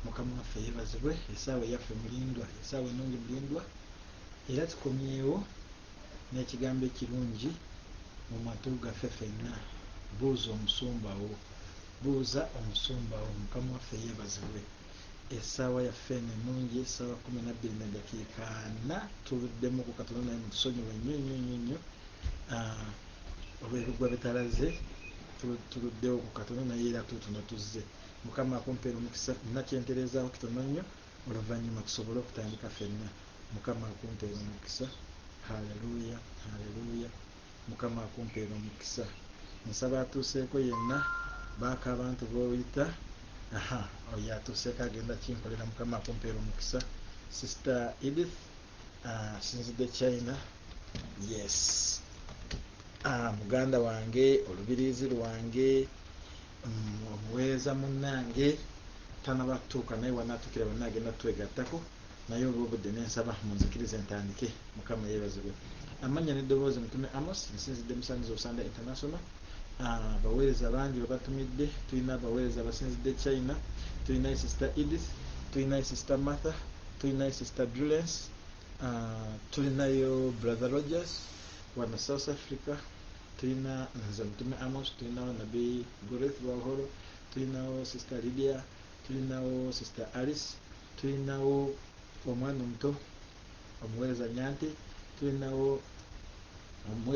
Mukama waffe yebazibwe esaawa eyaffe mulindwa esaawa enungi mulindwa era tukomyewo nekigambo ekirungi mumatu gaffe fenna buuza omusumba wo buuza omusumba wo mukama waffe yebazibwe esaawa yaffe eno enungi esaawa kumi nabbiri nedakiika ana tuwedemu ku katono naye mutusonyiwe nnyo nnyo nnyo nnyo ah, olwebigwa bitalaze tuluddewo ku katono naye era tuutuno tuzze Mukama akumpere omukisa nina kyenterezawo kitono nnyo oluvanyuma tusobole okutandika fenna Mukama akumpere omukisa Hallelujah Hallelujah Mukama akumpere omukisa nsaba atuseeko yenna baako abantu boyita ahaa oyo atuseeko agenda kinkolera Mukama akumpere omukisa sister Edith Ah, sinzidde china yes ah, muganda wange olubiriizi lwange mm, omuweereza munnange tanaba kutuuka naye wanatuukira banna agenda twegattako naye olwobudde nensaba munzikiriza entandike mukama yeebazibwe amannya n'eddoboozi mutume amos nsinzidde musaniza osanda international Abaweereza bangi be batumidde. Tulina abaweereza abasinzidde China. Tulinayo Sisita Edith. Tulinayo Sisita Martha. Tulinayo Sisita Drulence. Tulinayo Brother Rogers wano South Africa. Tulina nze Mutume Amos. Tulinawo Nabi Goreth Wahoro. Tulinawo Sisita Lydia. Tulinawo Sisita Alice. Tulinawo omwana omuto omuweereza Nyante tulinawo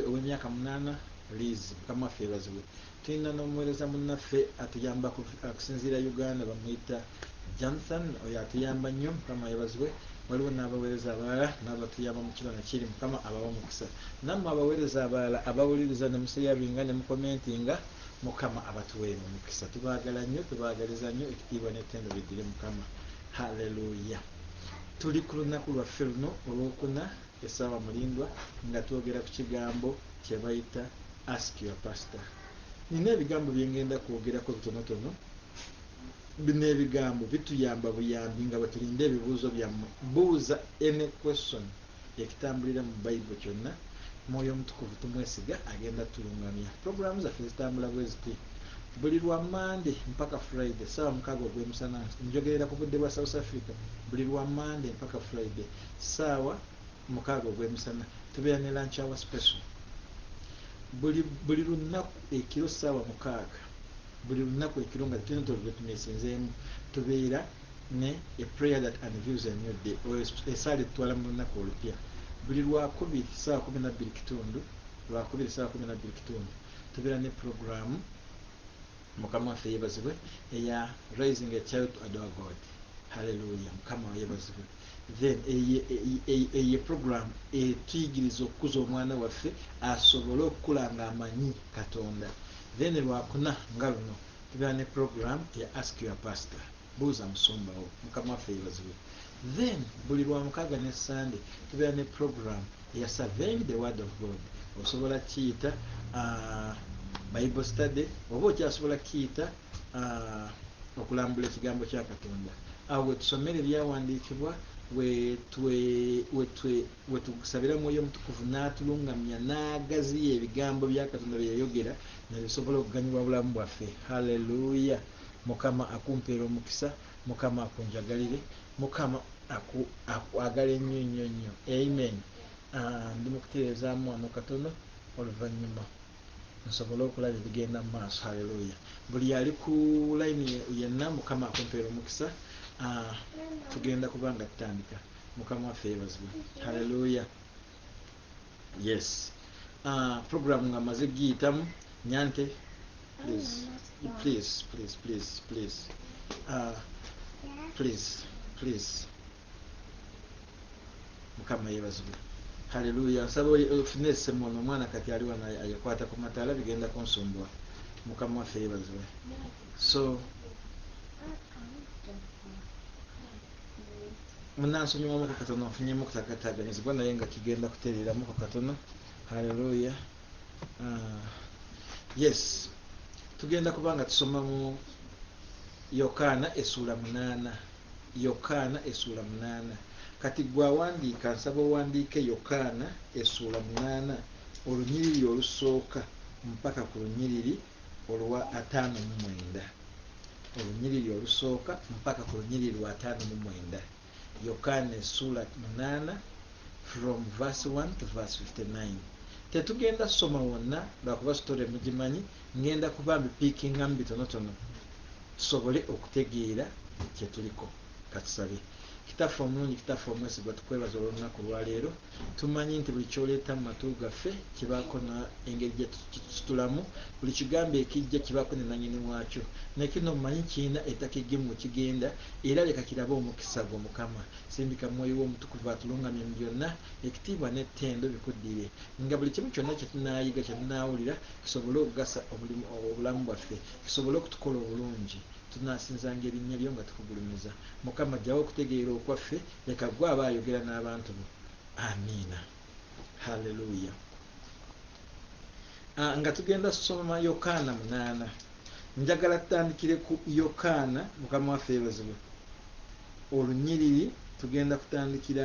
ow'emyaka munaana Liizi mukama waffe yebazibwe tulina n'omuweereza munnaffe atuyamba okusinziira Uganda bamuyita Jonathan oyo atuyamba nnyo mukama yebazibwe waliwo n'abaweereza abalala n'abatuyamba mu kibano kiri mukama abawa omukisa nammwe abaweereza abalala abawuliriza ne museyabinga ne mukomentinga mukama abatuweere omukisa tubaagala nnyo tubaagaliza nnyo ekitiibwa n'ettendo biddire mukama haleluya Tuli ku lunaku lwaffe luno olw'okuna essaawa mulindwa nga twogera ku kigambo kye bayita Ask your pastor. Nina ebigambo bye ngenda kwogerako bitonotono. Bino ebigambo bituyamba buyambi nga bwe tulinda ebibuuzo byammwe. Buuza any question. ekitambulira mu bible kyonna mwoyo omutukuvu tumwesiga agenda tulungamya program zaffe zitambula bweziti buli lwa mande mpaka friday sawa mukaga ogwemusana njogerera ku budde bwa south africa buli lwa mande mpaka friday sawa mukaga ogwemusana tubeera ne lunch hour special buli buli lunaku ekiro sawa mukaga buli lunaku ekiro nga tino tolubetmesenzemu tubeera ne a prayer that unveils a new day oyo esaala etutwala mu lunaku olupya buli lwakubiri saawa kumi nabbiri kitundu lwakubiri saawa kumi nabbiri kitundu tubeera ne pulogulaamu mukama waffe yebazibwe eya rising a child to adore god haleluya mukama wayebazibwe then eye program etuyigiriza okukuza omwana waffe asobole okukula nga amanyi katonda then lwakuna nga luno Tubeera ne program ya ask your pastor, buuza musumba wo. Mukama waffe yebazibwe. Then buli lwamukaga ne Sunday tubeera ne program ya surveying the word of God. Osobola kiyita uh, bible study oba okyasobola kiyita uh, okulambula ekigambo kya Katonda. Awo wetusomera ebyawandiikibwa We tugusabira Mwoyo Mutukuvu n'atulungamya n'agaziya ebigambo bya Katonda bye yayogera ne bisobola okuganyulwa obulamu bwaffe. Hallelujah! Mukama akumpeere omukisa. Mukama akunjagalire. Mukama aku, akwagale nnyo nnyo nnyo. Amen. Ah, ndi mu kutereezaamu wano katono, oluvannyuma nsobole okulaba ebigenda mu maaso. Hallelujah! Buli ali ku layini yenna, Mukama akumpeere omukisa. Ah, tugenda kuba nga tutandika. mukama waffe yebazibwe haleluya yes uh, program nga maze giyitamu nyante please please please please please uh, please please mukama yebazibwe haleluya nsaba ofune esemu ono omwana kati aliwa ayekwata ku mataala bigenda kunsumbwa mukama waffe yebazibwe so munansonyiwamuko katono nfunyemu okutakataganyizibwa naye nga kigenda kutereeramuko katono haleluya ah, yes tugenda kuba nga tusoma mu yokaana esuula munaana yokaana esuula munaana kati gweawandiika nsaba owandiike yokaana esuula munaana olunyiriri olusooka mpaka ku lunyiriri olwa ataano mu mwenda olunyiriri olusooka mpaka ku lunyiriri lwa ataano mu mwenda, Yokaana essuula munaana from verse one to verse fifty nine. Tetugenda kusoma wonna lwakuba story mugimanyi, ngenda kuba mbipiikingamu bitonotono tusobole okutegeera kye tuliko. Katusabe. Kitaffe omulungi, Kitaffe omwesigwa, tukwebaza olw'olunaku lwa leero. Tumanyi nti buli ky'oleeta mu matu gaffe kibaako na engeri gye tukisitulamu. Buli kigambo ekijja kibaako ne nannyini waakyo. Ne kino mmanyi kirina ettaka eggimu we kigenda, era leka kirabe omukisa gwo, Mukama. Sindika Mwoyo Wo Omutukuvu atulungamye mu byonna. Ekitiibwa n'ettendo bikuddire. Nga buli kimu kyonna kye tunaayiga, kye tunaawulira, kisobole okugasa omulimu, obulamu bwaffe, kisobole okutukola obulungi. Tunaasinzanga erinnya lyo nga tukugulumiza. Mukama ggyawo okutegeera okwaffe, leka ggwe aba ayogera n'abantu bo. Amiina. Haleluya. Ah, nga tugenda soma Yokaana munaana. Njagala tutandikire ku Yokaana, Mukama waffe yeebazibwe. Olunyiriri tugenda kutandikira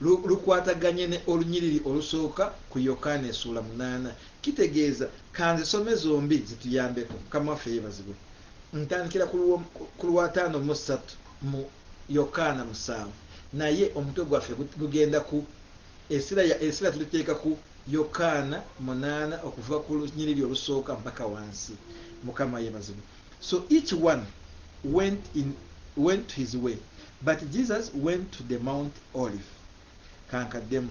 lu, lukwataganye ne olunyiriri olusooka ku Yokaana esuula munaana. Kitegeeza, ka nzisome zombi zituyambeko. Mukama waffe yebazibwe. Ntandikira ku luwo- ku lw'ataano mu ssatu mu Yokaana musanvu, naye omutwe gwaffe gu- gugenda ku esira ya esira tuliteeka ku Yokaana munaana okuva ku lunyiriri olusooka mpaka wansi. Mukama yebazibwe. So each one went in went his way but Jesus went to the mount olive kankaddemu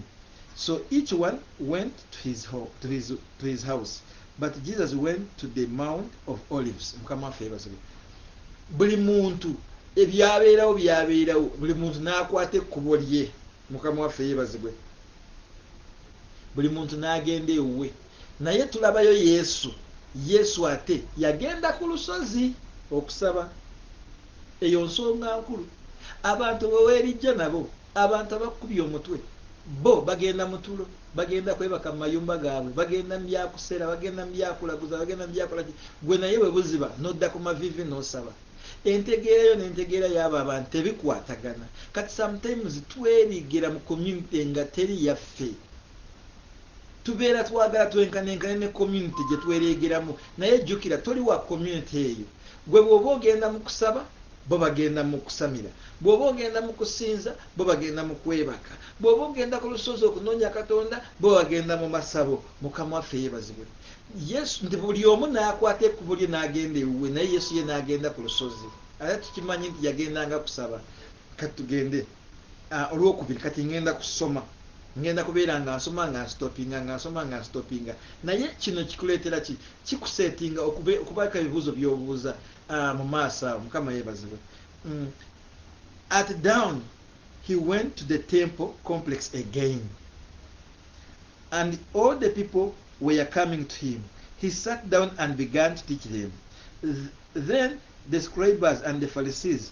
so each one went to his, ho to his, to his house but Jesus went to the mount of olives mukama waffe yebazibwe buli muntu ebyabeerawo byabeerawo buli muntu n'akwata ekkubo lye mukama waffe yebazibwe buli muntu n'agenda ewuwe Naye tulabayo Yesu. Yesu ate yagenda ku lusozi okusaba. Eyo nsonga nkulu. Abantu bwe weebijja nabo, abantu abakukubye omutwe, bo bagenda mu tulo, bagenda kwebaka mu mayumba gaabwe, bagenda mu bya kusera, bagenda mu bya kulaguza, bagenda mu bya kola ki, ggwe naye bwe buziba n'odda ku maviivi n'osaba. Entegeera yo n'entegeera y'abo abantu tebikwatagana. Kati sometimes twebiikgira mu community nga teri yaffe. tubeera twagala twenkanenkane ne community gye twereegeramu naye jjukira toli wa community eyo gwe bw'oba ogenda mu kusaba bo bagenda mu kusamira bw'oba ogenda mu kusinza bo bagenda mu kwebaka bw'oba ogenda ku lusozi okunoonya katonda bo bagenda mu masabo mukama waffe yeebazibwe yesu nti buli omu n'akwata ekkubo lye n'agenda ewuwe naye yesu ye n'agenda ku lusozi ate tukimanyi nti yagendanga kusaba Kati tugende ah, olwokubiri kati ngenda kusoma ngenda kubeera nga nsoma nga nsitopinga nga nsoma nga nsitopinga naye kino kikuleetera ki kikusetinga okubaako ebibuuzo byobuuza ah, mu maaso awo mukama yebazibwe mm. at down he went to the temple complex again and all the people were coming to him he sat down and began to teach them then the scribers and the pharisees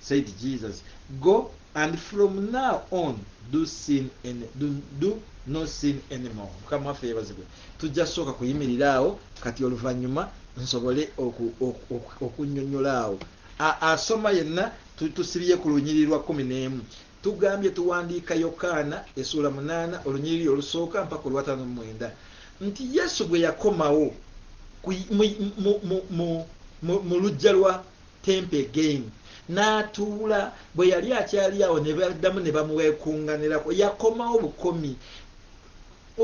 Said Jesus go and from now on do sin in do, do no sin anymore mukama waffe yebazibwe tujja sooka kuyimirira awo kati oluvanyuma nsobole okunyonyola awo asoma yenna tusibye ku lunyiri lwa kumi n'emu tugambye tuwandiika yokaana esuula munaana olunyiriri olusooka mpaka olwataano mumwenda nti yesu bwe yakomawo mu lujja lwa temp again natuula bweyali akyali awo nebadamu nebamwekunganirako yakomawo bukomi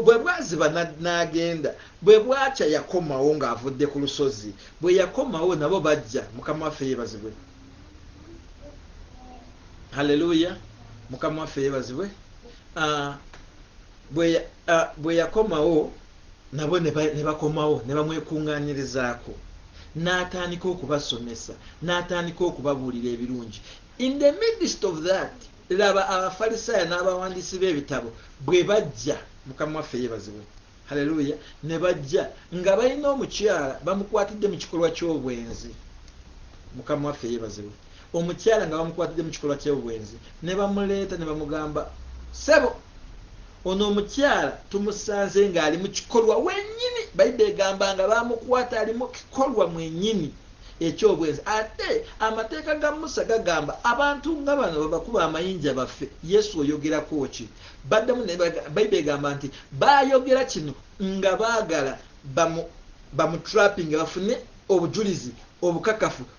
bwebwaziba nagenda bwebwakya yakomawo nga avudde ku lusozi bweyakomawo nabo bajja mukama waffe yebazibwe haleluya mukama waffe yebazibwe ah, bweyakomawo ah, nabo ne bakomawo ne bamwekungaanyirizaako n'atandika okubasomesa n'atandika okubabuulira ebirungi in the midst of that laba abafalisaayo n'abawandiisi b'ebitabo bwe bajja mukama waffe yebazibwe haleluya ne bajja nga balina omukyala bamukwatidde mu kikolwa ky'obwenzi mukama waffe yebazibwe Omukyala nga bamukwatidde mu kikolwa ky'obwenzi ne bamuleeta ne bamugamba ssebo ono omukyala tumusanze ng'ali mu kikolwa wennyini bayibbe egamba nga bamukwata ali mu kikolwa mwennyini ekyobwenzi ate amateeka ga musa gagamba abantu nga bano babakuba amayinja baffe yesu oyogerako ki baddamu bayibbe egamba nti bayogera kino nga baagala bamutrappinga bafune obujulizi obukakafu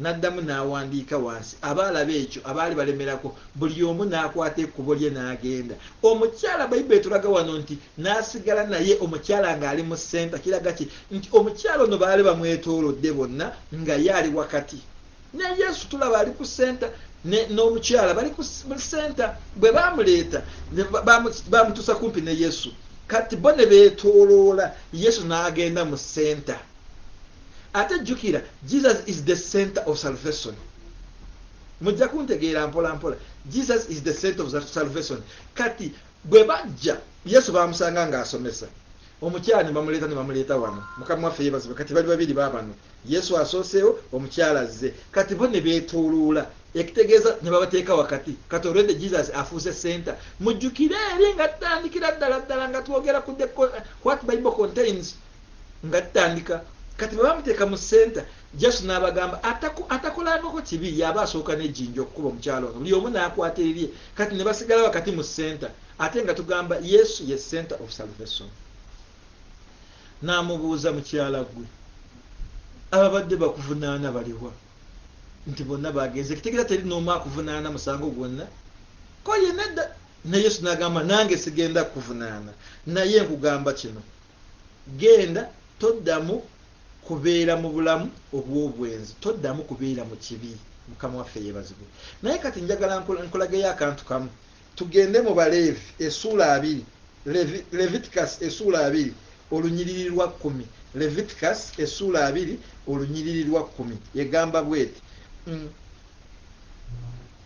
N'addamu n'awandiika wansi, abaalaba ekyo, abaali balemerako, buli omu n'akwata ekkubo lye n'agenda. Omukyala, Bayibuli etulaga wano nti, N'asigala naye, omukyala nga ali mu ssenta. Kiraga ki? Nti omukyala ono baali bamwetoolodde bonna, nga ye ali wakati. Ne Yesu, tulaba, ali ku ssenta, ne, n'omukyala, bali ku, mu ssenta. Bwe baamuleeta, ne ba, baamu, baamutuusa kumpi ne Yesu. Kati bo ne beetooloola, Yesu n'agenda mu ssenta. Ate jukira Jesus is the center of salvation. Mujja kuntegeera mpola mpola. Jesus is the center of salvation. Kati bwe bajja Yesu bamusanga nga asomesa. Omukyala ne bamuleeta ne bamuleeta wano. Mukama waffe yebazibe. Kati bali babiri babano. Yesu asooseewo, omukyala azze. Kati bo ne beetooloola ekitegeeza ne babateeka wakati kati olwedde jesus afuuse senta mujjukire eri nga tutandikira ddala ddala nga twogera ku what bible contains nga tutandika kati bwe bamuteeka mu senta jasu n'abagamba atakolanoko kibi yaba asooka nejinja okukuba omukyalo ono buli omu n'akwata ebibye kati ne basigala wakati mu senta ate nga tugamba yesu ye center of salvation n'amubuuza mukyala gwe ababadde bakuvunaana baliwa nti bonna bagenze kitegera teri n'omu akuvunaana musango gwonna ko yenna dda ne yesu n'agamba nange sigenda kukuvunaana naye nkugamba kino genda toddamu kubeera mu bulamu obw'obwenzi toddamu kubeera mu kibi mukama waffe yebazibwe naye kati njagala nkulageyo akantu kamu tugende mu baleevi esuula abiri leviticus esuula abiri olunyiriri lwa kkumi leviticus esuula abiri olunyiriri lwa kkumi egamba bweti mm.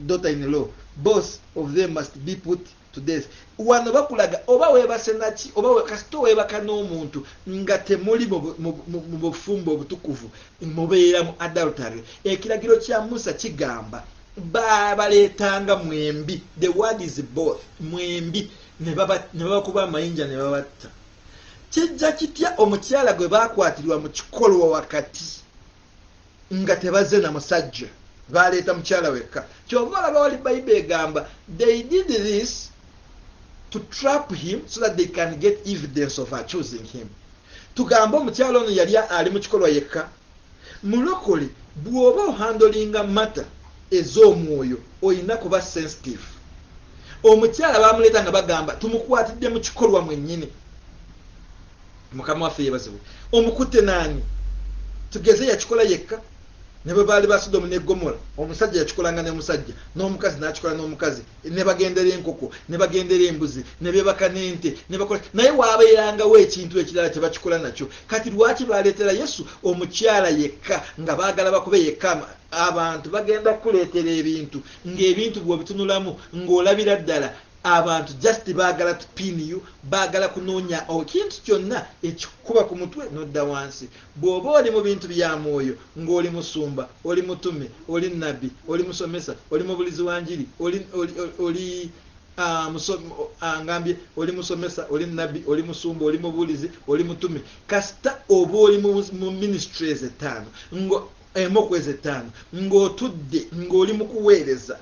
daughter in law both of them must be put to death wano bakulaga oba webase naki oba kasita webaka n'omuntu nga temuli mu bufumbo obutukuvu mubeera mu adultery ekiragiro kya musa kigamba babaleetanga mwembi the word is both mwembi ne babakuba amayinja ne babatta kijja kitya omukyala gwe bakwatirwa mu kikolwa wakati nga tebazze na musajja baleeta mukyala wekka kyova olaba wali bayiba egamba they did this to trap him so that they can get evidence of choosing him tugambe omukyala ono yali ali mu kikolwa yekka mulokole bw'oba ohandolinga mata ez'omwoyo olina kuba sensitive omukyala bamuleeta nga bagamba tumukwatidde mu kikolwa mwennyini Mukama waffe yebazibwe. Omukutte naani? Tugeze yakikola yekka? Ne bwe baali ba Sodomu ne Gomora, omusajja yakikolanga ne musajja, n'omukazi n'akikola n'omukazi, ne bagendera enkoko, ne bagendera embuzi, ne beebaka n'ente, ne bakola. Naye waabeerangawo ekintu ekirala kye bakikola nakyo. Kati lwaki baaleetera Yesu omukyala yekka nga baagala bakube yekka ama? Abantu bagenda kukuleetera ebintu, ng'ebintu bw'obitunulamu ng'olabira ddala. Abantu just bagala to pin you, bagala kunonya okintu kyonna ekikukuba ku mutwe nodda wansi. Bwoba oli mu bintu bya mwoyo nga oli musumba, oli mutume, oli nabbi, oli musomesa, oli mubulizi wa njiri, oli, oli, oli, oli Ah, ah, ngambye oli musomesa oli nabbi oli musumba oli mubuulizi oli mutume kasita oba oli mu ministry ezo ettaano emu okwezi ettaano ng'otudde ng'oli mu kuweereza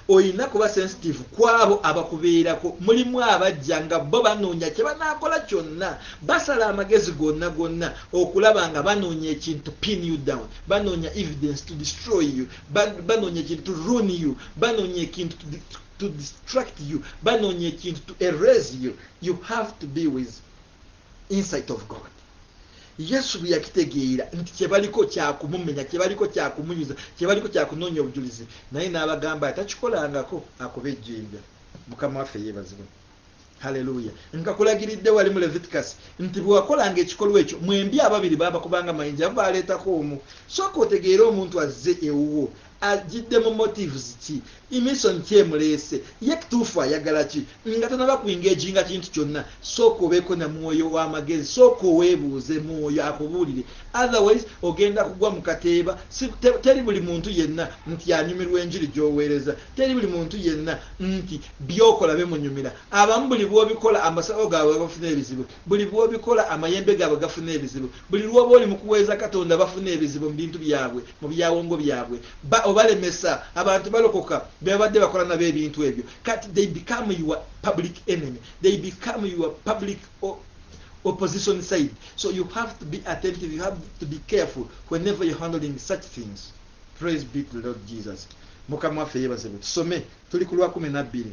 Olina kuba sensitive ku abo abakubeerako. Mulimu abajja nga bo banoonya kye banaakola kyonna. Basala amagezi gonna gonna okulaba nga banoonya ekintu to pin you down, banoonya evidence to destroy you, banoonya ekintu to ruin you, banoonya ekintu to distract you, banoonya ekintu to erase you. You have to be with insight of god yesu bwe yakitegeera nti kyebaliko kyakumumenya kyebaliko kyakumuyuza kyebaliko kyakunoonya obujulizi naye n'abagamba atakikolangako akuba ejjinja mukama waffe yeebazibwa haleluya nkakulagiridde wali mu leviticus nti bwe wakolanga ekikolwa ekyo mwembi ababiri baabakubanga mayinja abo baaleetako omu sooka otegeere omuntu azze ewuwo ajjidde mu motives ki imison ki emuleese ye kituufu ayagala ki nga tonaba ku engaginga kintu kyonna sooka obeeko na mwoyo w'amagezi sooka oweebuuze mwoyo akubuulire otherwise ogenda kugwa mu kateeba teri buli muntu yenna nti anyumirwa enjiri gy'oweereza teri buli muntu yenna nti byokola bimunyumira abamu buli bw'obikola amasabo gaabwe babafuna ebizibu Buli lw'obikola, amayembe gaabwe gafuna ebizibu. Buli lw'oba oli mu kuweereza Katonda, bafuna ebizibu mu bintu byabwe, mu byawongo byabwe. Ba, obalemesa. Abantu balokoka, be babadde bakola nabo ebintu ebyo. Kati, they become your public enemy. They become your public o, opposition side. So you have to be attentive, you have to be careful whenever you're handling such things. Praise be to the Lord Jesus. Mukama waffe yebazebwe. Tusome, tuli ku lwa kumi na bbiri.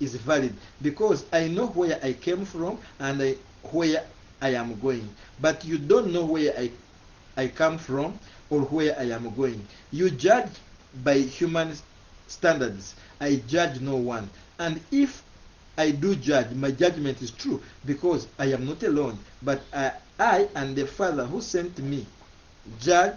is valid because I know where I came from and I where I am going but you don't know where I, I come from or where I am going you judge by human standards I judge no one and if I do judge. My judgment is true because I am not alone, but I, I and the Father who sent me judge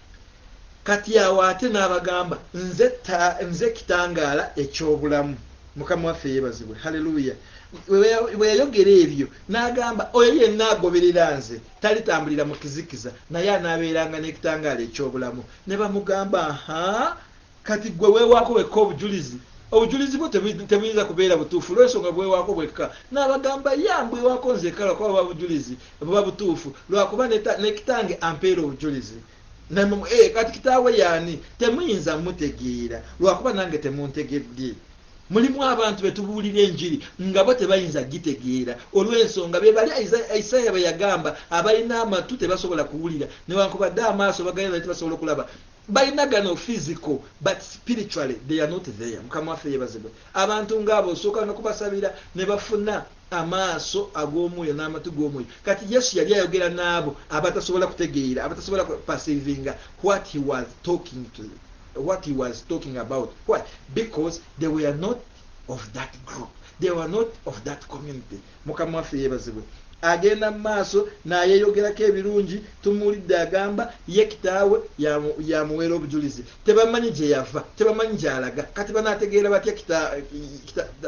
Kati awo ate n'abagamba nze ta, nze kitangaala eky'obulamu. Mukama waffe yeebazibwe, haleluya! Bwe yayogera ebyo, n'agamba oyo yenna agoberera nze talitambulira mu kizikiza, naye anaabeeranga n'ekitangaala eky'obulamu. Ne bamugamba, Aha! Kati gwe wewaako wekka obujulizi obujulizi bwo tebuyinza kubeera butuufu olwensonga bwewaako bwekka n'abagamba ya mbwewaako nzekala kuba buba bujulizi buba butuufu lwakuba ne kitange ampeera obujulizi eh, kati kitaawe yaani temuyinza mutegeera lwakuba nange temuntegedde mulimu abantu be tubuulira enjiri nga bo tebayinza gitegeera olw'ensonga be bali isaaya bwe yagamba abalina amatu tebasobola kuwulira newankubadde amaaso bagayina naye tebasobola okulaba Balina gano physical but spiritually they are not there mukama waffe yebazibwe abantu nga abo osooka nokubasabira nebafuna amaaso agomwoyo namatu gomwoyo kati yesu yali ayogera naabo abatasobola kutegeera abatasobola perceivinga what he was talking to what he was talking about why because they were not of that group they were not of that community Mukama waffe yebazibwe agenda mumaaso nayeyogerako ebirungi tumuwulidde agamba ye kitaawe yamuweera obujulizi tebamanyi gyeyava tebamanyi gyalaga kati banategeera batya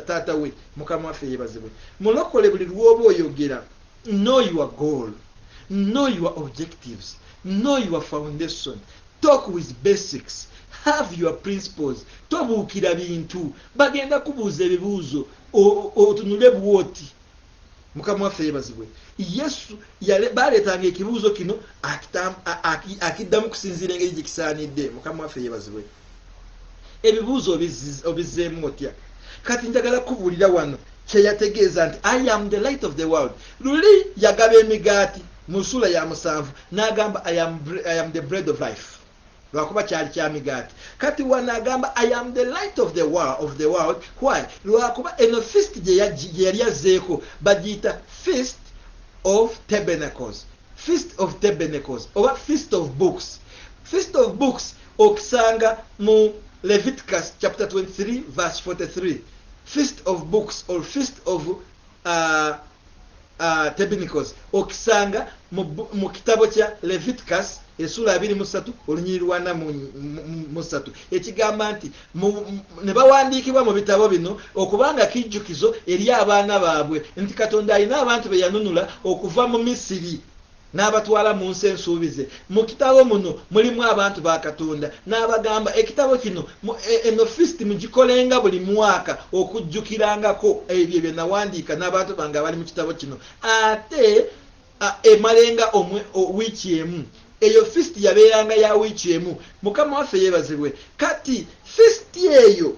taata we mukama waffe yebazibwe mulokole buli lwoba oyogera know your goal know your objectives know your foundation talk with basics have your principles tobuukira bintu bagenda kubuuza ebibuuzo otunule bwoti mukama waffe yebazibwe yesu baleetanga ekibuuzo kino akiddamu kusinziira engeri gye kisaanidde mukama waffe yebazibwe ebibuuzo obizzeemu otya kati njagala kubuulira wano kyeyategeeza nti i am the light of the world luli yagaba emigaati mu nsuula ya musanvu n'agamba i am the bread of life lwakuba kyali kya migaati kati wano agamba i am the light of the world, of the world. why lwakuba eno fist gyeyali azzeeko bagiyita fist of tabernacles fist of tabernacles oba fist of books fist of books okisanga mu leviticus chapter 23 verse 43 fist of books or fist of Tebinicoz okisanga mu kitabo kya Leviticus esula abiri mu ssatu olunyiri lwana mu ssatu ekigamba nti ne bawandiikibwa mu bitabo bino okubanga kijjukizo eri abaana baabwe nti Katonda alina abantu be yanunula okuva mu Misiri. N'abatwala mu nsi ensuubize. Mu kitabo muno mulimu abantu ba Katonda. N'abagamba, Ekitabo kino, mu, e, eno fisiti mugikolenga buli mwaka okujjukirangako ebyo bye nawandiika n'abantu bange abali mu kitabo kino. Ate a, emalenga omwe, o, wiiki emu. Eyo fisiti yabeeranga ya wiiki emu. Mukama waffe yeebazibwe. Kati, fisiti eyo.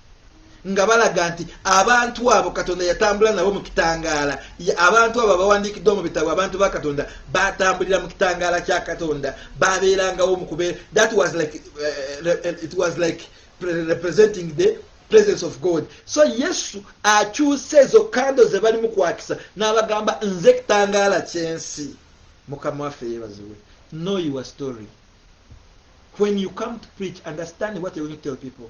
nga balaga nti abantu abo katonda yatambula nabo mu kitangaala abantu abo abawandiikiddwa mu bitabo abantu ba katonda batambulira mu kitangaala kya katonda babeerangawo mukubeera that was like, uh, it was like representing the presence of god so yesu akyusa ezo kando ze balimu kwakisa n'abagamba nze ekitangaala kyensi mukama waffe yebaziwe know your story when you come to preach understand what you going to tell people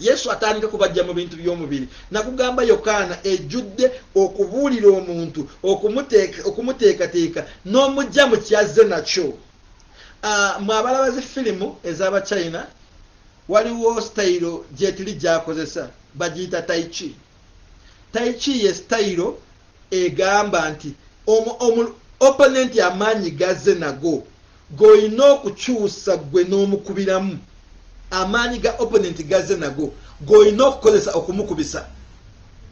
yesu atandika kubajja mu bintu by'omubiri nakugamba yokaana ejjudde okubuulira omuntu okumuteekateeka n'omujja mu kyazze nakyo ah, mwe abalaba zi firimu ez'abachina waliwo sitayiro gyetuli gyakozesa bagiyita taichi Tai chi ye sitayiro egamba nti opponent amaanyi g'azze nago g'olina okukyusa ggwe n'omukubiramu. Amaanyi ga opponent g'azze nago g'olina okukozesa okumukubisa.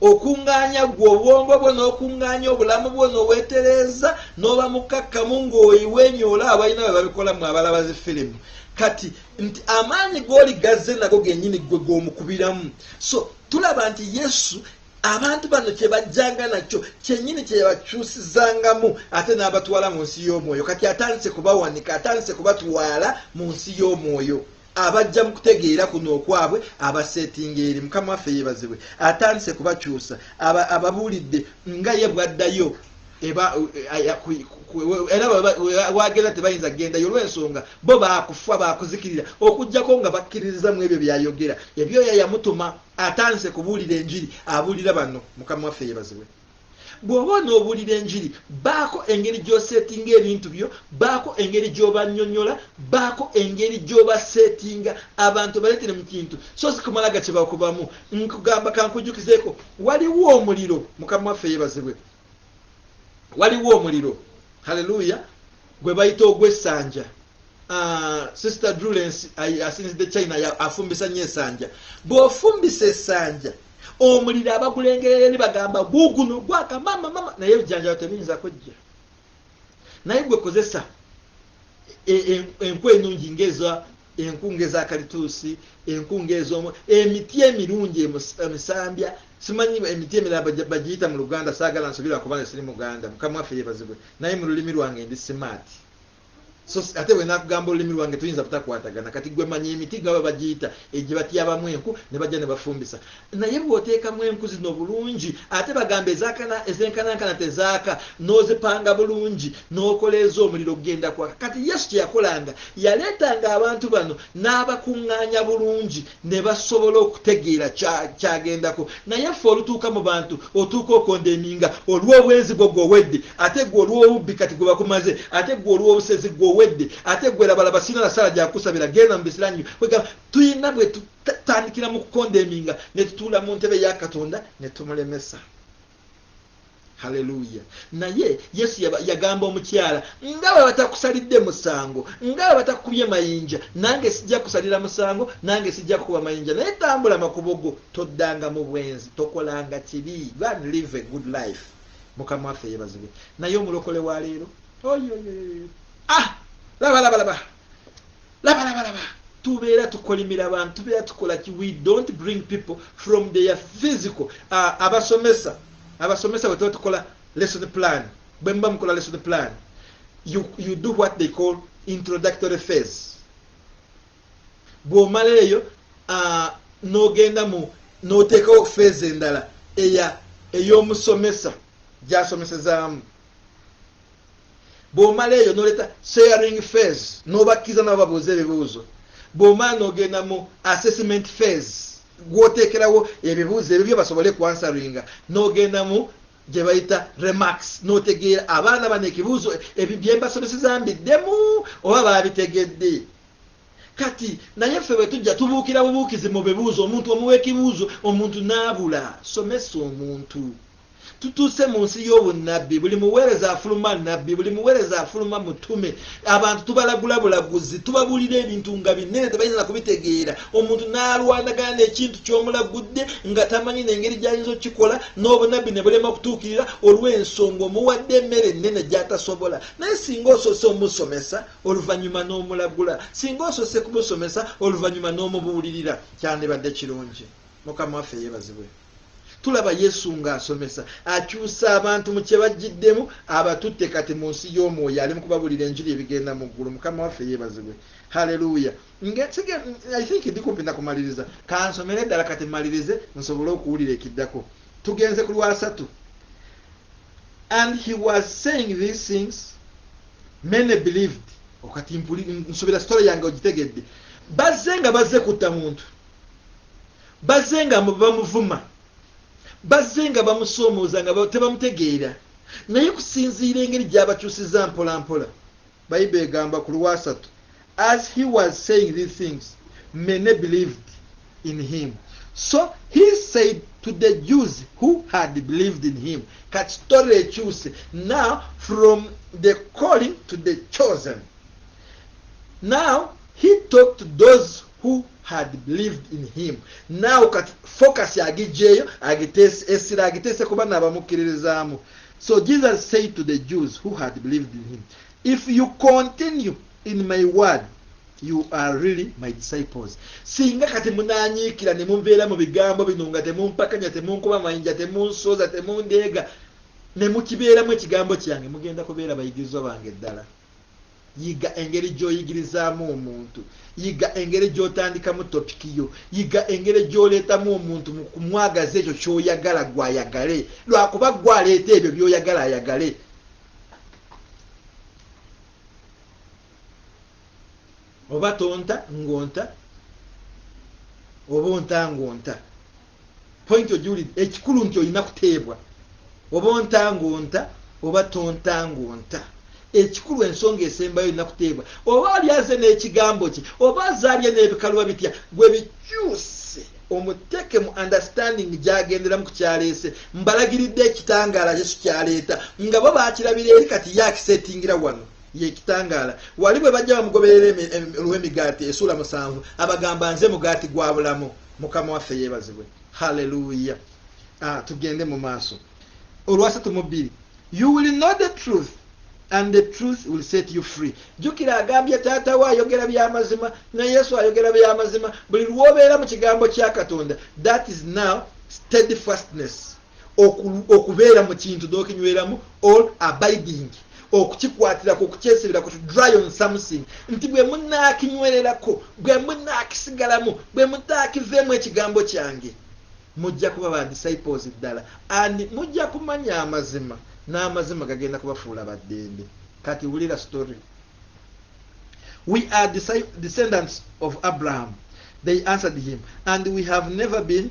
Okungaanya ggwe obwongo bwo n'okungaanya obulamu bwo n'owetereeza n'oba mukkakkamu ng'oiwenyoola abalina bwe babikola mu abalaba zi firimu kati nti amaanyi g'oli g'azze nago gennyini ggwe g'omukubiramu. So. Tulaba nti Yesu abantu bano kye bajjanga nakyo kyennyini kye yabakyusizangamu ate n'abatwala mu nsi y'omwoyo kati atandise kubawanika atandise kubatwala mu nsi y'omwoyo abajja mu kutegeera kuno okwabwe abaseetinga eri mukama waffe yeebazibwe atandise kubakyusa ababuulidde nga ye bwaddayo era wagenda tebayinza gendayo olwensonga bo bakufa bakuzikirira okujjako nga bakkiririza mu ebyo byayogera ebyoya yamutuma atandise kubuulira enjiri abuulira bano mukama waffe yebazibwe bw'oba n'obuulira enjiri baako engeri gy'oseetinga ebintu byo baako engeri gy'obanyonyola baako engeri gy'obaseetinga abantu baleetere mu kintu so si kumala gakibakubamu nkugamba kankujjukizeeko waliwo omuliro mukama waffe yebazibwe waliwo omuliro haleluya gwe bayita ogw'essanja ah, sister drulens asinzidde china afumbisa nnyo esanja bw'ofumbisa esanja omuliro abagulengerera eri bagamba guguno gwaka mama mama naye ebijanjalo tebiyinza kujja naye gwe kozesa e, e, enkwa enungi ngaeza enkunga eza kalituusi enkunga ezomu emiti emirungi emisambya simanyi emiti emirala bagiyita mu luganda saagala nsubira kuba nesiri muganda mukama waffe yebazibwe naye mu lulimi lwange ndi simaati so ate bwe nakugamba olulimi lwange tuyinza butakwatagana kati gwe manya emiti gaba bagiyita egye batyabamu enku ne bajja ne bafumbisa Naye bw'oteekamu enku zino bulungi ate bagamba ezaakana ezenkanankana tezaaka, n'ozipanga bulungi n'okola ez'omuliro gugenda kwaka. Kati Yesu kye yakolanga yaleetanga abantu bano n'abakuŋŋaanya bulungi ne basobola okutegeera kya kyagendako. Naye ffe olutuuka mu bantu otuuka okondeminga olw'obwenzi gwo gwe owedde ate gwe olw'obubbi kati gwe bakumaze ate gwe olw'obusezi gwe owedde ate gwe labalaba sirina na ssaala gya kukusabira genda mu bisiranyu kwegamba tuyina bwe tatandikira mu kukondeminga ne tutuula mu ntebe ya katonda ne tumulemesa haleluya naye yesu yagamba omukyala nga bwe batakusalidde musango nga bwe batakukubye mayinja nange sijja kusalira musango nange sijja kukuba mayinja naye tambula makubo go toddanga mu bwenzi tokolanga kibi gan live a good life mukama waffe yebazibwe naye omulokole wa leero oyoyoyo ah laba laba laba laba laba laba tubeera tukolimira abantu tubeera tukola ki we don't bring people from their physical uh, abasomesa abasomesa bwe tuba tukola lesson plan bwe muba mukola lesson plan you, you do what they call introductory phase bw'omala eyo uh, n'ogenda mu n'oteekawo phase endala eya ey'omusomesa gy'asomesezaamu bwomala eyo noleta sharing fas nobakkiza nabo babuuza ebibuuzo bwomala nogenda mu assessment fas gwotekerawo ebibuuzo ebyo byebasobole kuansaringa nogenda mu gyebayita remax notegeera abaana bano ekibuuzo byembasomeseza mbiddemu oba babitegedde kati naye ffe bwetujja tubuukira bubuukizi mu bibuuzo omuntu omuwa ekibuuzo omuntu naabula somesa omuntu tutuuse mu nsi y'obunnabbi buli muweereza afuluma nabbi buli muweereza afuluma mutume abantu tubalagula bulaguzi tubabuulira ebintu nga binene tebayinza na kubitegeera omuntu n'alwanagana n'ekintu ky'omulagudde nga tamanyi n'engeri gy'ayinza okukikola n'obunabbi ne bulema okutuukirira olw'ensonga omuwadde emmere ennene gy'atasobola naye singa osoose omusomesa oluvannyuma n'omulagula singa osoose kumusomesa oluvannyuma n'omubuulirira kyandibadde kirungi mukama waffe yeebazibwe Tulaba Yesu ng'asomesa, akyusa abantu mu kye bajjiddemu, abatutte kati mu nsi y'omwoyo, ali mu kubabuulira enjiri ebigenda mu ggulu. Mukama waffe yeebazibwe. Haleluya! Ng'ensige, I think ndi kumpi na kumaliriza. Kansomere ddala kati mmalirize nsobole okuwulira ekiddako. Tugenze ku lwasatu. And he was saying these things, many believed. Okati nsubira story yange ogitegedde. Bazze nga bazze kutta muntu. Bazze nga bamuvuma, bazze nga bamusoomooza nga tebamutegeera naye kusinziira engeri gy'abakyusizza mpolampola, Bible egamba ku Lwasatu, As he was saying these things, many believed in him. So he said to the Jews who had believed in him, kati story ekyuse now from the calling to the chosen. Now he talked to those who had believed in him now kati focus agijjeeyo essira agiteese ku banna abamukkiririzaamu so jesus said to the jews who had believed in him if you continue in my word you are really my disciples singa kati munanyiikira ne mubeera mu bigambo bino nga temumpakanya temunkuba mayinja temunsooza temundeega ne mukibeeramu ekigambo kyange mugenda kubeera bayigirizwa bange ddala Yiga engeri gy'oyigirizaamu omuntu. Yiga engeri gy'otandikamu topiki yo. Yiga engeri gy'oleetamu omuntu mu kumwagaza ekyo ky'oyagala ggwe ayagale, lwakuba ggwe aleeta ebyo by'oyagala ayagale. Oba tonta ng'onta, oba onta ng'onta. point ogiwulidde ekikulu nti olina kuteebwa oba onta ng'onta oba tonta ng'onta ekikulu ensonga esembayo olina kuteebwa oba ali aze n'ekigambo kye oba azaabye n'ebikaluba bitya gwe bikyuse omuteeke mu understanding gyagenderamu ku kyaleese mbalagiridde ekitangaala yesu kyaleeta nga bo bakirabira eri kati ye akisetingira wano yekitangaala wali bwe bajja bamugoberera olw'emigaati esuula musanvu abagamba nze mugaati gwa bulamu mukama waffe yebazibwe haleluya ah, tugende mu maaso olwasatu mu bbiri you will know the truth and the truth will set you free jukira agambye taata we ayogera byamazima ne yesu ayogera byamazima buli lwobeera mu kigambo kya katonda that is now steadfastness okubeera mu kintu n'okinyweramu all abiding okukikwatirako okukyesiberako to dry on something nti bwe munaakinywererako bwe munaakisigalamu bwe mutaakiveemu ekigambo kyange mujja kuba ba disciples ddala and mujja kumanya amazima n'amazima gagenda kubafuula baddembe kati wulira story we are descendants of abraham they answered him and we have never been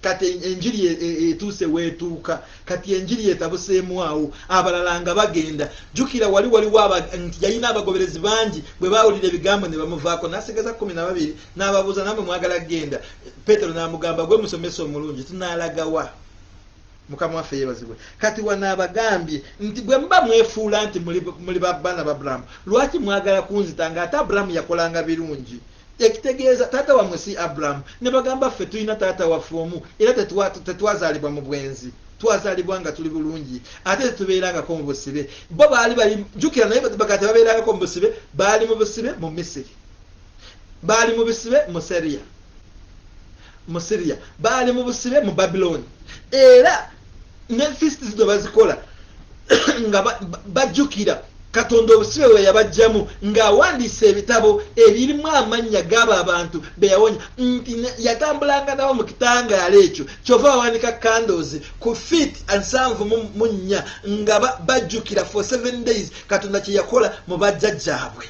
kati enjiri e, e, etuuse weetuuka kati enjiri etabuseemu awo abalala nga bagenda jukira wali waliwo nti yalina abagoberezi bangi bwe bawulira ebigambo ne bamuvaako nasigeza kumi na babiri n'ababuuza namwe mwagala kugenda petero n'amugamba gwe musomesa omulungi tunaalagawa mukama waffe yebazibwe kati wano abagambye nti bwe muba mwefuula nti muli babbana ba aburahamu lwaki mwagala kunzita nga ate aburahamu yakolanga birungi Ekitegeeza taata wammwe si Abraham. Ne bagamba, Ffe tulina taata waffe omu, era tetwa, tetwazaalibwa mu bwenzi. Twazaalibwa nga tuli bulungi, ate tetubeerangako mu busibe. Bo baali bali, jjukira, naye baga tebabeerangako mu busibe. Baali mu busibe mu Misiri. Baali mu busibe mu Seria, mu Siria. Baali mu busibe mu Babiloni. Era. ne fist zino bazikola nga bajjukira katonda obusibe bwe yabajjamu ng'awandiisa ebitabo ebirimu amannya g'abo abantu be yawonya nti yatambulanga nabo mu kitangaala ekyo kyova bawanika candles ku fit nsanvu mu nnya nga bajjukira for seven days katonda kye yakola mu bajjajjaabwe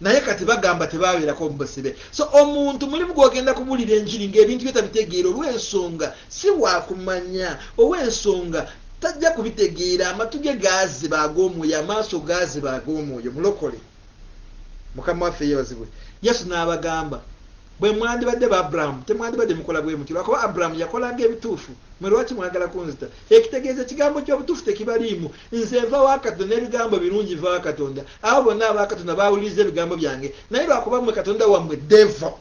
naye kati bagamba tebabeerako mubasibe so omuntu mulimu gwogenda kubulira enjiri ngaebintu bye tabitegeera olwensonga si wakumanya owensonga tajja kubitegeera amatu ge gaaziba ag'omwoyo amaaso gaaziba ag'omwoyo mulokole mukama waffe yebazibwe yesu n'abagamba bwe mwandibadde ba abrahamu temwandibadde mukola bwe muti lwakuba abrahamu yakolanga ebituufu mwe lwaki mwagala kunzita ekitegeeza ekigambo ky'obutuufu tekibaliimu Nze nva wa Katonda n'ebigambo ebirungi biva wa Katonda. Abo bonna aba Katonda baawuliriza ebigambo byange. Naye lwa kuba mmwe katonda wammwe devo,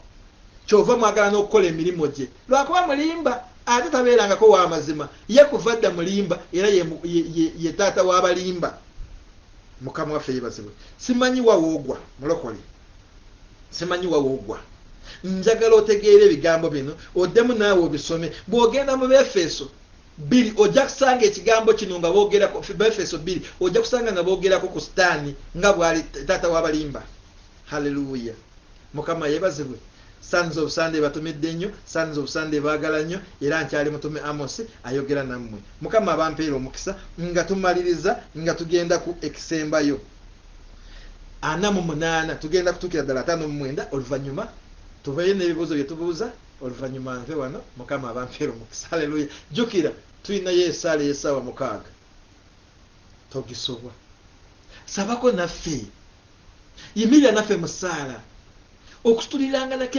ky'ova mwagala n'okukola emirimu gye. Lwa kuba mulimba, ate tabeerangako wa mazima. Ye kuva dda mulimba era ye, ye, ye, ye taata w'abalimba. Mukama waffe yeebazibwe. Simanyi wa w'ogwa, mulokole. Simanyi wa w'ogwa. Njagala otegeere ebigambo bino, oddemu naawe obisome. Bw'ogenda mu Beefeso, Bbiri, ojja kusanga ekigambo kino nga boogerako, Befeso bbiri, ojja kusanga nga boogerako ku Sitaani nga bw'ali taata w'abalimba. Haleluya! Mukama yeebazibwe. Sons of Sunday batumidde nnyo, Sons of Sunday baagala nnyo, era nkyali mutume Amos ayogera nammwe. Mukama abampeere omukisa nga tumaliriza nga tugenda ku ekisembayo. Ana mu munaana, tugenda kutuukira ddala ataano mu mwenda, oluvannyuma tuveeyo n'ebibuuzo bye tubuuza. oluvanyuma nve wano mukama abampeera omukisa aleluya jukira tulinayo esaala eyesaawa mukaaga togisubwa sabako naffe yimirira naffe musaala okutuliranganako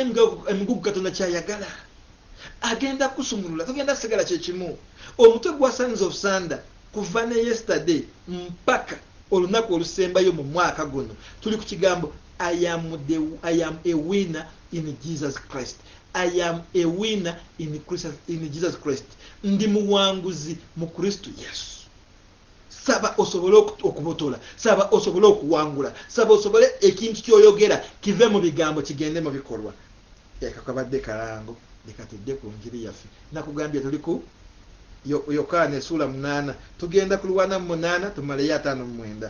emigugu katonda kyayagala agenda kusumulula tugenda sigala kyekimu omutwe gwasandiza obusanda kuva ne yesterday mpaka olunaku olusembayo mu mwaka guno tuli ku kigambo i am a winner in jesus christ i am a winner in, christ, in jesus christ ndi muwanguzi mu kristo yesu saba osobole okubotola saba osobole okuwangula saba osobole ekintu kyoyogera kive mu bigambo kigende mu bikolwa ekakabadde kalango leka tudde ku njiri yaffe nakugambye tuli ku yokaana esuula munaana tugenda kulwana mu munaana tumaleyo ataano mu mwenda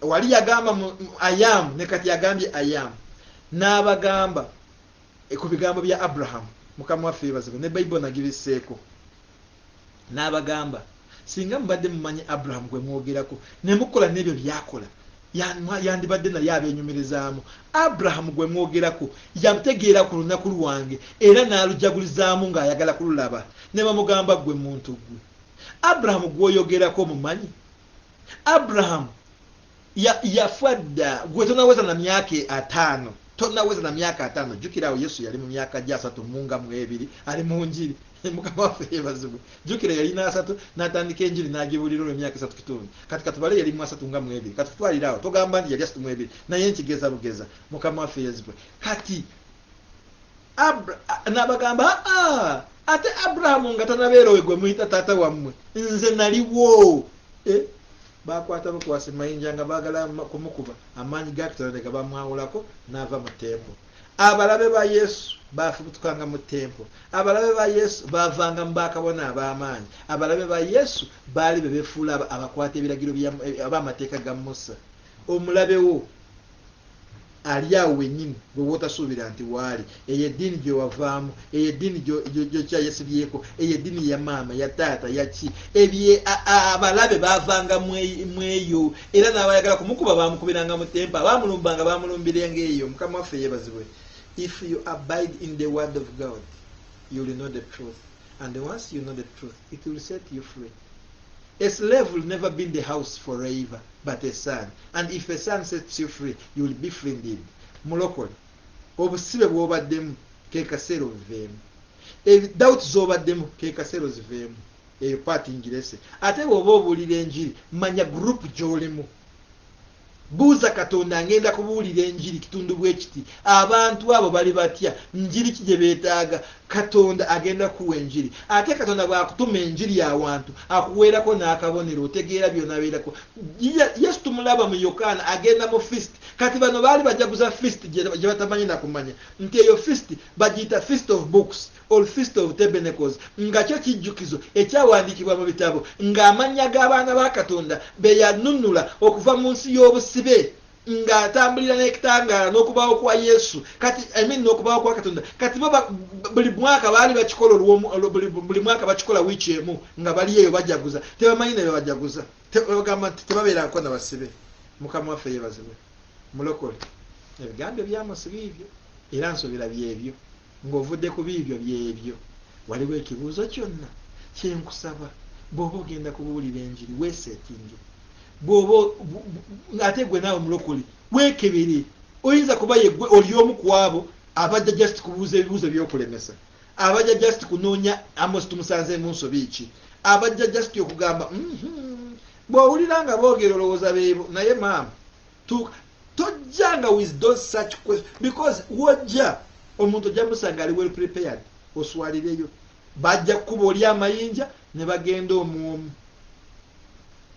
wali yagamba ayamu ne kati yagambye ayamu n'abagamba eh, ku bigambo bya abrahamu mukama waffe yebazibwe ne baibo nagibiseeko n'abagamba singa mubadde mumanyi abrahamu gwe mwogerako ne mukola n'ebyo byakola yandibadde naye abenyumirizaamu abrahamu gwe mwogerako yategeera ku lunaku lwange era n'alujagulizaamu ng'ayagala kululaba ne bamugamba gwe muntu gwe abrahamu gwoyogerako mumanyi Abraham ya, yafa dda gwe tonaweza na myaka e, ataano tonaweza na myaka ataano jukira awo yesu yali mu myaka gya asatu munga mu ebiri ali mu njiri mukama waffe yebazibwe jukira yalina asatu natandika enjiri nagibulira olwo emyaka esatu kitundu kati katubale yali mu asatu nga mu ebiri kati tutwalira awo togamba nti yali asatu mu ebiri naye nkigeza bugeza mukama waffe yezibwe kati n'abagamba aa ate aburahamu nga tanabeera oyo gwe muyita taata wammwe nze naliwo e, bakwata bukwasi mayinja nga baagala kumukuba amaanyi ga katonda ne gabamwawulako n'ava mu tempo abalabe ba yesu baafubutukanga mu tempo abalabe ba yesu baavanga mu bakabona ab'amaanyi abalabe ba yesu baali be befuula abakwata ebiragiro eh, ab'amateeka ga musa omulabewo Ali awo wennyini gwe w'otasuubira nti w'Ali. Eyo eddiini gye wavaamu, eyo eddiini gy'okyayasibyeko, eyo eddiini ya maama, ya taata, ya ki, ebyo abalabe baavanga mu eyo, era n'abayagala kumukuba baamukubiranga mu tempa, baamulumbanga, baamulumbirenga eyo. Mukama waffe yeebazibwe. If you abide in the word of God, you will know the truth. and once you know the truth it will set you free a slave will never be in the house forever but a son and if a son sets you free you will be free indeed mulokole obusibe bwobaddemu kekaseera obuveemu doubt zobaddemu kekaseera oziveemu eyo paati ngirese ate bwoba obuulira enjiri manya group gyolimu Buuza Katonda, Ngenda kubuulira enjiri kitundu bwe kiti, abantu abo bali batya? Njiri ki gye beetaaga? Katonda agenda kukuwa enjiri. Ate Katonda bw'akutuma enjiri awantu, akuweerako n'akabonero, otegeera by'onabeerako. Yesu tumulaba mu Yokaana agenda mu feast. Kati bano baali bajaguza feast gye batamanyi na kumanya, nti eyo feast bagiyita Feast of Books. or Feast of Tabernacles, nga kyo kijjukizo ekyawandiikibwa mu bitabo nga amannya g'abaana ba Katonda be yanunnula okuva mu nsi y'obusibe nga atambulira n'ekitangaala n'okubaawo kwa Yesu kati I mean n'okubaawo kwa Katonda kati bo buli mwaka baali bakikola olw'omu buli mwaka bakikola wiiki emu nga bali eyo bajaguza tebamanyi ne bebajaguza bagamba nti tebabeerako na basibe mukama waffe yebazibwe mulokole ebigambo ebyamusiba ebyo era nsobera byebyo Ng'ovudde ku biibyo by'ebyo, waliwo ekibuuzo kyonna? Kye nkusaba, bw'oba ogenda kubuulira enjiri, weeseetinge. Bw'oba, ate ggwe naawe mulokole, weekebere. Oyinza kuba ye ggwe oli omu ku abo abajja just kubuuza ebibuuzo by'okulemesa, abajja just kunoonya Amosi tumusanzeemu nsobi ki, abajja just okugamba, mm-hmm. Bw'owulira nga boogera olowooza beebo, naye maama. tuuka tojja nga with those such question because wojja omuntu ojja musanga ali well prepared oswalireyo bajja kukuba oli amayinja ne bagenda omwomu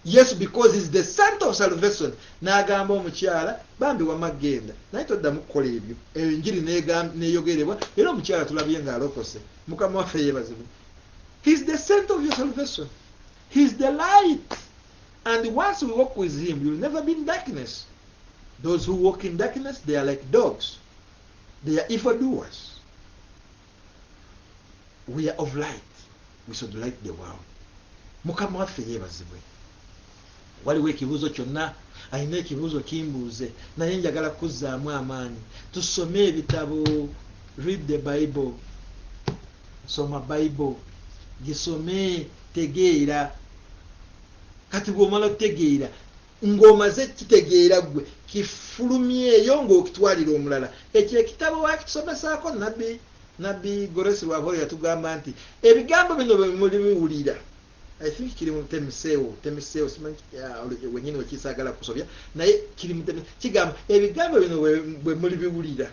yes because is the sant of salvation n'agamba omukyala bambi wama genda naye toddamu kukola ebyo enjiri neyogerebwa era omukyala tulabye nga alokose mukama waffe yebazibwe his the sant of your salvation his the light And once we walk with him you'll never be in darkness. Those who walk in darkness they are like dogs. They are evil doers. We are of light. We should light the world. Mukama waffe yebazibwe. Waliwo ekibuzo kyonna alina ekibuzo kimbuuze naye njagala kuzzaamu amaanyi tusome ebitabo read the bible soma bible gisome tegeera Kati bw'omala okutegeera, ng'omaze okukitegeera ggwe, kifulumyeyo ng'okitwalira omulala. Ekyo ekitabo waakitusomesaako? Nabbi, Nabbi Goresi Rwabwoyo yatugamba nti, Ebigambo bino bwe mulibiwulira, I think kiri mu Temiseewo, Temiseewo, simanyi wennyini we kiri, saagala kusobya, naye kiri mu Temiseewo, kigamba, Ebigambo bino bwe mulibiwulira,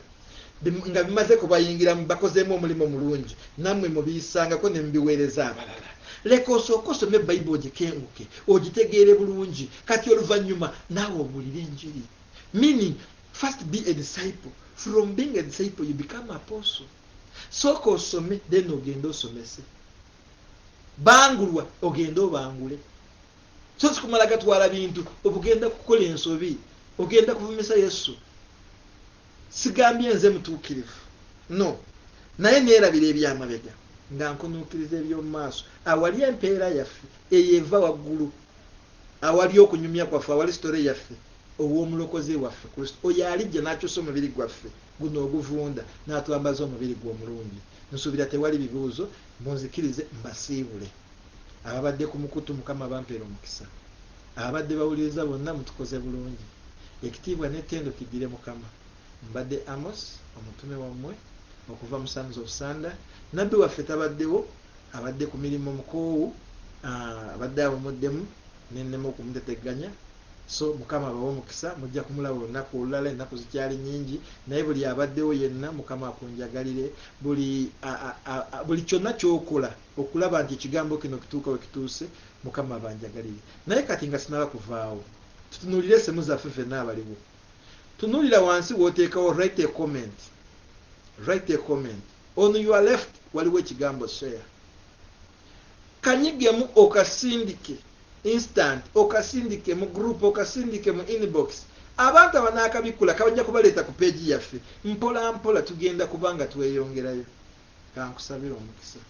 nga bimaze kubayingiramu bakozeemu omulimu omulungi nammwe mubiyisangako ne mubiweereza abalala leka osooke osome bayibu ogikenguke ogitegeere bulungi kati oluvannyuma naawe obuulire enjiri meaning first be a disciple from being a disciple you become apostle sooka osome then ogende osomese bangulwa ogende obangule so sikumala gatwala bintu obugenda kukola ensobi ogenda kuvumisa yesu Sigambye nze mutuukirivu, no, naye neerabira eby'amabega nga nkunuukiriza eby'omu maaso, awali empeera yaffe eyo eva waggulu, awali okunyumya kwaffe, awali sitole yaffe ow'Omulokozi waffe Kristo, oyo alijja n'akyusa omubiri gwaffe guno oguvunda n'atwambaza omubiri gwe omulungi. Nsuubira tewali bibuuzo, munzikirize mbasiibule. Ababadde ku mukutu mukama abampere omukisa ababadde bawuliriza bonna mutukoze bulungi ekitiibwa ne tendo kiddire mukama mbadde Amos omutume wammwe okuva mu sons of sunder nabbi waffe tabaddewo abadde ku mirimmo mukoowu abadde awumuddemu nennema okumutetegganya so mukama abawe omukisa mujja kumulaba olunaku olulala ennaku zikyali nyingi naye buli abaddewo yenna mukama akunjagalire buli buli kyonna kyokola okulaba nti ekigambo kino kituuka we kituuse mukama abanjagalire naye kati nga sinaba kuvaawo tutunulire esemu zaffe fenna abaliwo tunulira wansi wotekawo write a comment write a comment on your left waliwo ekigambo share kanyigemu okasindike instant okasindike mu group okasindike mu inbox abantu abanakabikkula kabajja kubaleeta ku peegi yaffe mpola mpola tugenda kubanga tweyongerayo Ka nkusabire omukisa.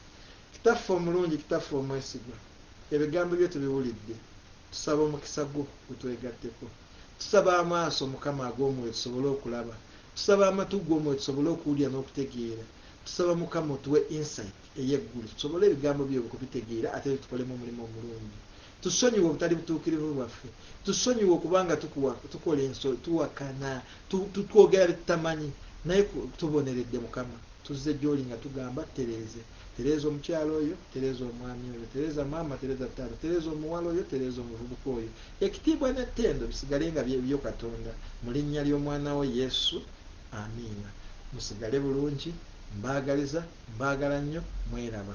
Kitaffe omulungi, Kitaffe omwesigwa, Ebigambo Byo tubiwulidde. Tusaba omukisa Gwo gutwegatteko. Tusaba amaaso, Mukama, ag'omwoyo tusobole okulaba. Tusaba amatu g'omwoyo tusobole okuwulira n'okutegeera. Tusaba, Mukama, otuwe insight ey'eggulu tusobole Ebigambo Byo okubitegeera ate tubikolemu omulimu omulungi. Tusonyiwe obutali butuukirivu bwaffe. Tusonyiwe okuba nga tukola ensobi, tuwakana, twogera bye tutamanyi. Naye tuboneredde, Mukama. Tuzze gy'Oli nga tugamba, Ttereeze. Ttereeza omukyala oyo. Ttereeza omwami oyo. Ttereeza maama. Ttereeza taata. Ttereeza omuwala oyo. Ttereeza omuvubuka oyo. Ekitiibwa n'ettendo bisigale nga bye Bibyo, Katonda. Mu Linnya ly'Omwana Wo, Yesu. Amiina. Musigale bulungi. Mbaagaliza. Mbaagala nnyo. Mweraba.